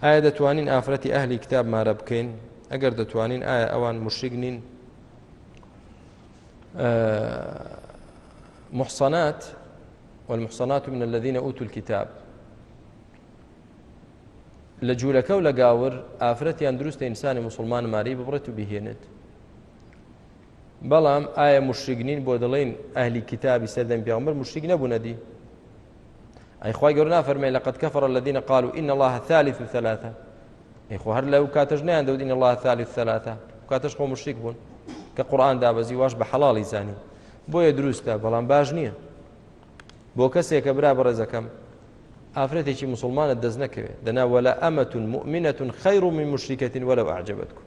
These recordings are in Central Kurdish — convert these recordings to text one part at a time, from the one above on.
ئایا دەتوانین ئافرەتی ئەهلی کتاب مارە بکەین ئەگەر دەتوانین ئایا ئەوان مشریک نین محصنات والمحصنات من الذين أوتوا الكتاب لە جوولەکە و لە گاور ئافرەتیان دروستە ئینسانی مسلمان ماری ببڕێت و بهێنێت بەڵام ئایا مشرگنین بۆ دەڵێن ئەهلی کتابی سەردەم پیامبەر مشتیک نەبوونەدی ئەی خوای گەور نافەرمێ لە قەت کەفڕە لە دینە قال و ئین الله ثالث و ثلاثە ئەی خۆ هەر لەو کاتەش نیان دەوت ئین الله ثالث ثلاثە کاتەش خۆ مشتیک بوون کە قورآان دابەزی واش بە حەڵی زانی بۆیە دروستە بەڵام باش نییە بۆ کەسێکە برا بەڕێزەکەم ئافرەتێکی مسلمانە دەست نەکەوێت دەنا وەلا ئەمەتون مؤمنەتون خەیڕ من مشتیکەتین وەلو ئاجبەتکم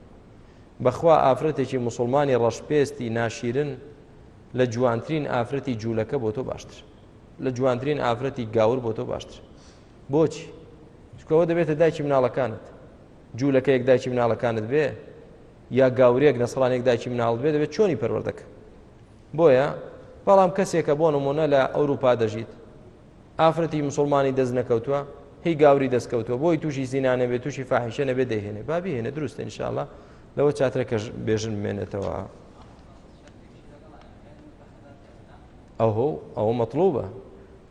بەخوا ئافرەتێکی مسلمانی ڕەشپێستی ناشیرن لە جوانترین ئافرەتی جوولەکە بۆ تۆ باشتر لە جوانترین ئافرەتی گاور بۆ تۆ باشتر بۆچی چکەوە دەبێتە دایکی مناڵەکانت جوولەکەیەک دایکی مناڵەکانت بێ یا گاورێک نەسرانێک دایکی مناڵ بێ دەبێت چۆنی پەروەردەکە بۆیە بەڵام کەسێکە بۆ نمونە لە ئەوروپا دەژیت ئافرەتی مسلمانی دەست نەکەوتووە هی گاوری دەستکەوتووە بۆی تووشی زینانە بێت تووشی فاحشە نەبێ دەهێنێ بابی هێنە دروستە انشاءله لەوە چاترەکەش بێژن بمێنێتەوە. ئەهۆ ئەوە مەتڵوبە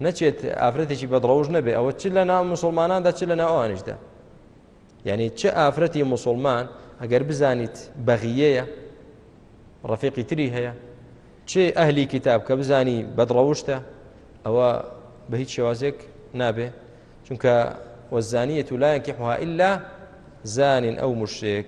نەچێت ئافرەتێکی بەدڕەوش نەبێ ئەوە چ لە ناو مسلماناندا چ لە ناو ئەوانیشدا یعنی چ ئافرەتی مسلمان ئەگەر بزانیت بەغیەیە ڕفیقی تری هەیە چ ئەهلی کتاب کە بزانی بەدڕەوشتە ئەوە بە هیچ شێوازێک نابێ چونکە وەزانیە و لایەنکی حها ئللا زانین ئەو مشتێک